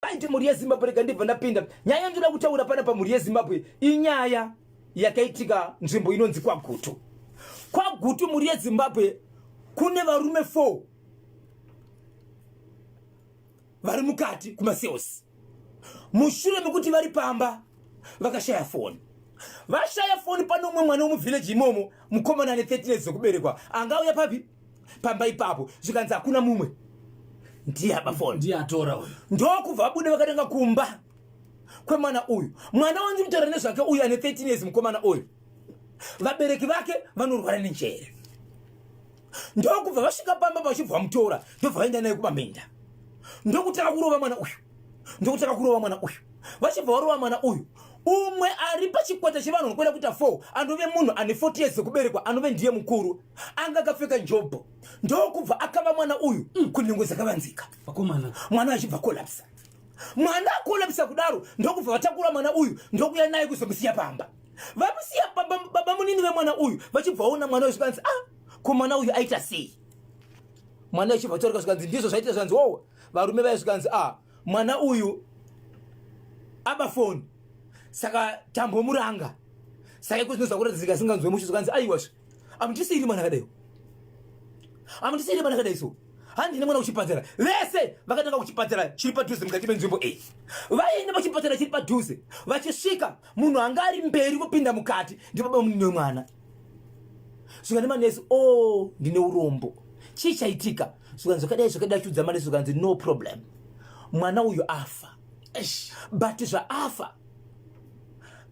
Paite mhuri yeZimbabwe rega ndibva ndapinda. Nyaya yandinoda kutaura pana pamhuri yeZimbabwe inyaya yakaitika nzvimbo inonzi kwaGutu. KwaGutu mhuri yeZimbabwe kune varume 4 vari mukati kumasales. Mushure mekuti vari pamba vakashaya foni. Vashaya foni pano umwe mwana womuvillage imomo mukomana ane 13 years dzekuberekwa. Angauya papi? pamba ipapo zvikanzi hakuna mumwe ndiye apa foni ndiye atora uyu ndokubva vabude vakatanga kumba kwemwana uyu mwana wanzi mutaura nezvake uyu ane 13 years mukomana uyu vabereki vake vanorwara nenjere ndokubva vasvika pamba vachibva vamutora ndobva vaenda naye kumaminda ndokutanga kurova mwana uyu ndokutanga kurova mwana uyu vachibva varova mwana uyu umwe ari pachikwata chevanhu vanokwenda kuita four anove munhu ane 40 years dzekuberekwa anove ndiye mukuru anga akapfeka jobho ndokubva akava mwana uyu mm. kunhengo dzakavanzika vakomana mwana achibva kolapsa mwana akolapsa kudaro ndokubva vatakura mwana uyu ndokuya naye kuzomusiya pamba vamusiya baba, baba munini vemwana uyu vachibvaona mwana uyu zvikanzi ah ko mwana uyu aita sei mwana achibva atoreka zvikanzi ndizvo zvaita zvikanzi wowa varume vaye zvikanzi ah mwana uyu aba foni saka tambomuranga saka iko zvinozakuratidza zikasinganzwe mushu zvikanzi aiwazve amundisiiri mwana akadai amundisiiri mwana akadai so handine mwana kuchipatara vese vakatanga kuchipatara chiri padhuze mukati menzvimbo iyi vaenda pachipatara chiri padhuze vachisvika munhu anga ari mberi kupinda mukati ndibaba munini wemwana svikane manesi o oh, ndine urombo chii chaitika svikanzi zvakadai zvakadai chiudza manesi svikanzi no problem mwana uyu afa but zvaafa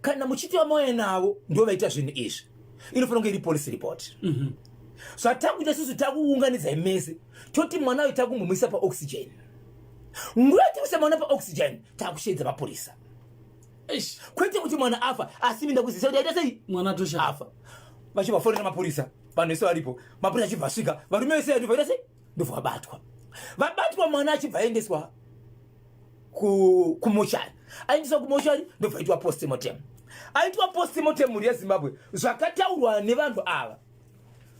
kana muchiti vamauya navo ndo vaita zvinhu izvi inofanira kunge iri police report mhm. zvatakuita susu takuunganidzai mese toti mwana uyu takumuisa paoxygen nguva yatikuisa mwana paoxygen takusheedza mapurisa kwete kuti mwana afa asi minda kuzisa kuti aita sei mwana atosha afa vachibva fonera mapurisa vanhu vese varipo mapurisa achibva asvika varume vese vaita sei ndobva vabatwa vabatwa mwana achibva aendeswa kumoshari aendeswa kumoshari ndobva aitwa postmortem aitwa postmortem mhuri yezimbabwe zvakataurwa nevanhu ava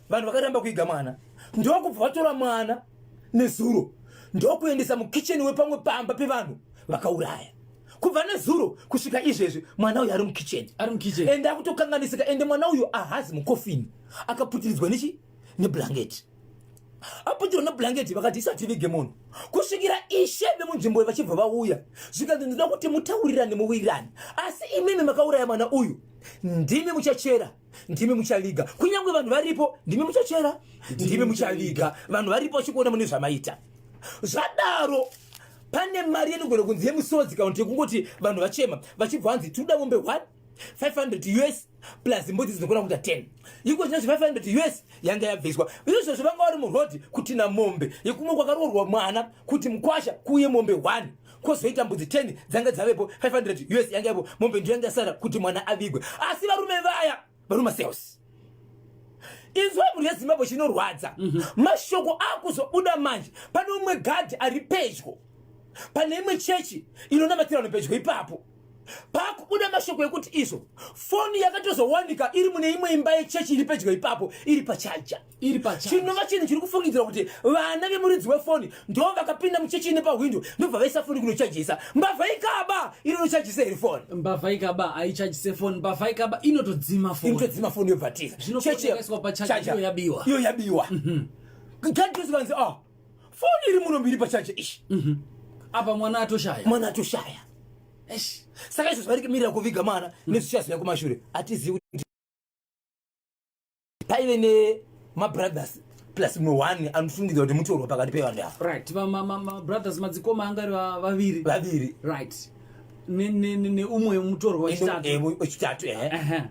vanhu vakaramba kuiga mwana ndokubva vatora mwana nezuro ndokuendesa mukitchen wepamwe pamba pevanhu vakauraya kubva nezuro kusvika izvezvi mwana uyu ari mukitchen ende akutokanganisika ende mwana uyu ahazi mukofini akaputiridzwa nechi neblanketi apotero neblanketi vakati isati vige munhu kusvikira ishe vemunzvimbo vachibva vauya zvikanzi ndinoda kuti mutaurirane muwirirane asi imimi makauraya mwana uyu ndimi muchachera ndimi muchaviga kunyange vanhu varipo ndimi muchachera ndimi muchaviga vanhu varipo vachikuona mune zvamaita zvadaro pane mari yenogona kunzi yemusodzi kana kuti yekungoti vanhu vachema vachibva vanzi tinoda mombe one 500 us plus mbudzi dzinokona kuita 10 iko china chi 500 us yanga yabviswa izvo zvivanga wari murhodhi kuti na mombe yekumwe kwakaroorwa mwana kuti mukwasha kuuye mombe 1 kozoita mbudzi 10 dzanga dzavepo 500 us yanga yapo mombe ndiyo yanga yasara kuti mwana avigwe asi varume vaya varuma sales izwa mhuri yezimbabwe chinorwadza mhm. mashoko akuzobuda manje pane umwe gadhi ari pedyo pane imwe chechi inonamatira vanhu pedyo ipapo pakubuda mashoko ekuti izvo foni yakatozowanika iri mune imwe imba yechechi iri pedyo ipapo iri pachaja iri pachaja chinova chinhu chiri kufungidzira kuti vana vemuridzi wefoni ndo vakapinda muchechi ine pahwindo ndobva vaisa foni kunochajisa mbavha ikaba inonochajisa iri foni mbavha ikaba haichajise foni mbavha ikaba inotodzima foni inotodzima foni yobva tiza chechi yabiwa iyo yabiwa mhm. gadhizikanzi a ah, foni iri muno mbiri pachaje ishi mhm. apa mwana atoshaya mwana atoshaya saka izvo zvari kimirira kuviga mwana mhm. nezvichazouya kumashure hatizivi kuti paive nemabrothers plus mumwe one anofungidzwa kuti mutorwa pakati pevanhu ava right mabrothers madzikoma angari vaviri vaviri right neumwe mutorwa wechitatu eh, wechitatu ehe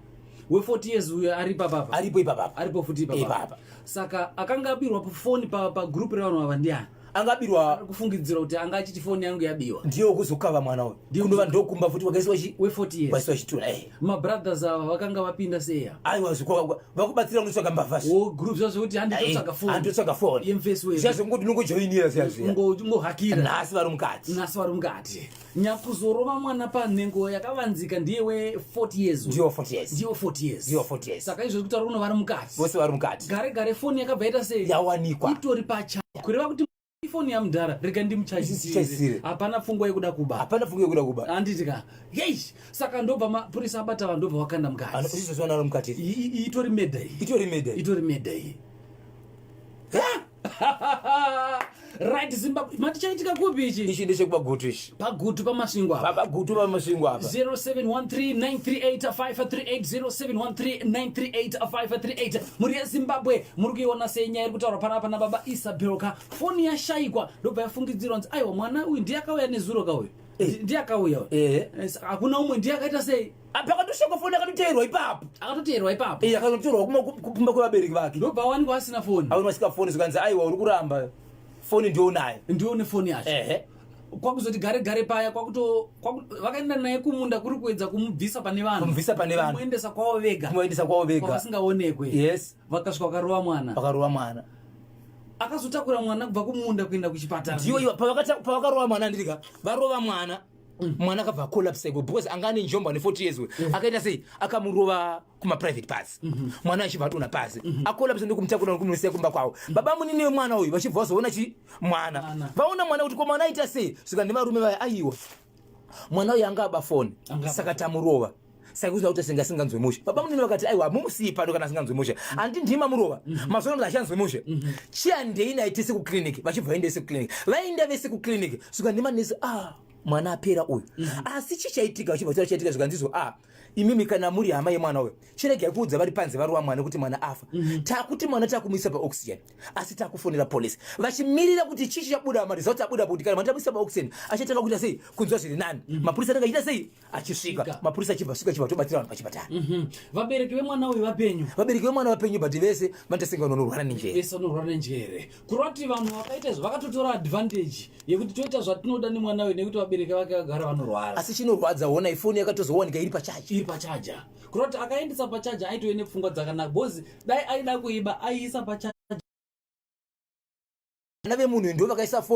we 40 years uyo aripo apapa aripo ipapapa aripo futi ipapapa saka akanga abirwa pafoni pagroup pa revanhu ava ndiani anga abirwa kufungidzira kuti anga achiti foni yangu yabiwa ndiyo kuzokava mwana uyu ndinova ndokumba futi wakaisiwa we 40 years wakaisiwa chitura eh mabrothers ava vakanga vapinda seya aiwa zviko vakubatsira kunotsvaga mbavha wo oh, group zvazvo kuti handitotsvaga foni handitotsvaga foni yemface we zvazvo ngokuti nongojoinira seya zviya ngo ngo hakira nhasi vari mukati nhasi vari mukati nyakuzorova mwana panhengo yakavanzika ndiye we 40 years ndiwo 40 years ndiwo 40 years ndiwo 40 years saka izvo zvekutaura uno vari mukati vose vari mukati gare gare foni yakabva yaita sei yawanikwa itori pacha kureva kuti ifoni yamudhara rega ndimuchaisire hapana pfungwa yekuda kuba hapana pfungwa yekuda kuba handiti ka yei saka ndobva mapurisa abata vanhu ndobva vakanda mukati izvozvo vanaro mukati itori meda iyi itori meda itori meda iyi right zimbabwe mati chaitika kupi ichi ichi ndechekupagutu ichi pagutu pamasvingo apa pagutu pamasvingo apa 0713938538 muri yezimbabwe muri kuiona sei nyaya iri kutaurwa panapa nababa isabel ka foni yashaikwa ndobva yafungidzirwa nzi aiwa mwana uyu ndiye akauya nezuro ka uyu eh. ndiye akauya uyu eh. hakuna umwe ndiye akaita sei pakatosvika foni akatoteerwa ipapo akatoteerwa ipapo iye akatoteerwa kumba kwevabereki vake ndobva wanikwa asina foni aona asika foni zvikanzi aiwa uri kuramba foni ndionayo ndione foni yacho ehe kwakuzoti gare gare paya kwakuto vakaenda naye kumunda kuri kuedza kumubvisa pane vanhu kumubvisa pane vanhu kumuendesa kwavo vega kumuendesa kwavo vega vasingaonekwe yes vakasvika vakarova mwana vakarova mwana akazotakura mwana kubva kumunda kuenda kuchipatara ndiyo pavakarova mwana ndirika varova mwana Mm. mwana akabva acolapse ko because anga ane njombo ane 40 years we mm. akaita sei akamurova kumaprivate pass mm-hmm. mwana achibva atona pasi mm-hmm. acolapse ndokumutakura nokumusiya kumba kwavo mm. baba munini wemwana uyu vachibva vazoona chi mwana vaona mwana kuti ko mwana aita sei svika nevarume vaya aiwa mwana uyu anga aba foni saka tamurova saka kuzvina kuti asinga singanzwe mushe baba munini vakati aiwa mumusiyi pano kana asinganzwe mushe mm-hmm. andi ndima murova mm-hmm. mazuva kuti achanzwe mushe mm-hmm. chiandei naye tese kuclinic vachibva vaenda vese kuclinic vaenda vese kuclinic suka ndima nese ah mwana apera uyu asi chi chaitika vachibva kuti chaitika zvikanzizwa ah imimi kana muri hama yemwana uyo chiregai kuudza vari panze vari wamwana kuti mwana afa takuti mwana takumisa paoxygen asi takufonera police vachimirira kuti chii chabuda maresults abuda kuti kana mwana tamuisa paoxygen achatanga kuita sei kunzwa zviri nani mapurisa anenge achiita sei achisvika mapurisa achibva svika chibva tobatsira vanhu pachipatara mhm. vabereki vemwana uyu vapenyu vabereki vemwana vapenyu but vese vanotasenga vanhu vanorwara nenjere vese vanorwara nenjere kureva kuti vanhu vakaita izvo vakatotora advantage yekuti toita zvatinoda nemwana uyu nekuti vabereki vake vagara vanorwara asi chinorwadza ona ifoni yakatozowanika iri pachaja iri pachaja kureva kuti akaendesa pachaja aitove nepfungwa dzakanaka bhozi dai aida kuiba aiisa pachaja vana vemunhu ndo vakaisa foni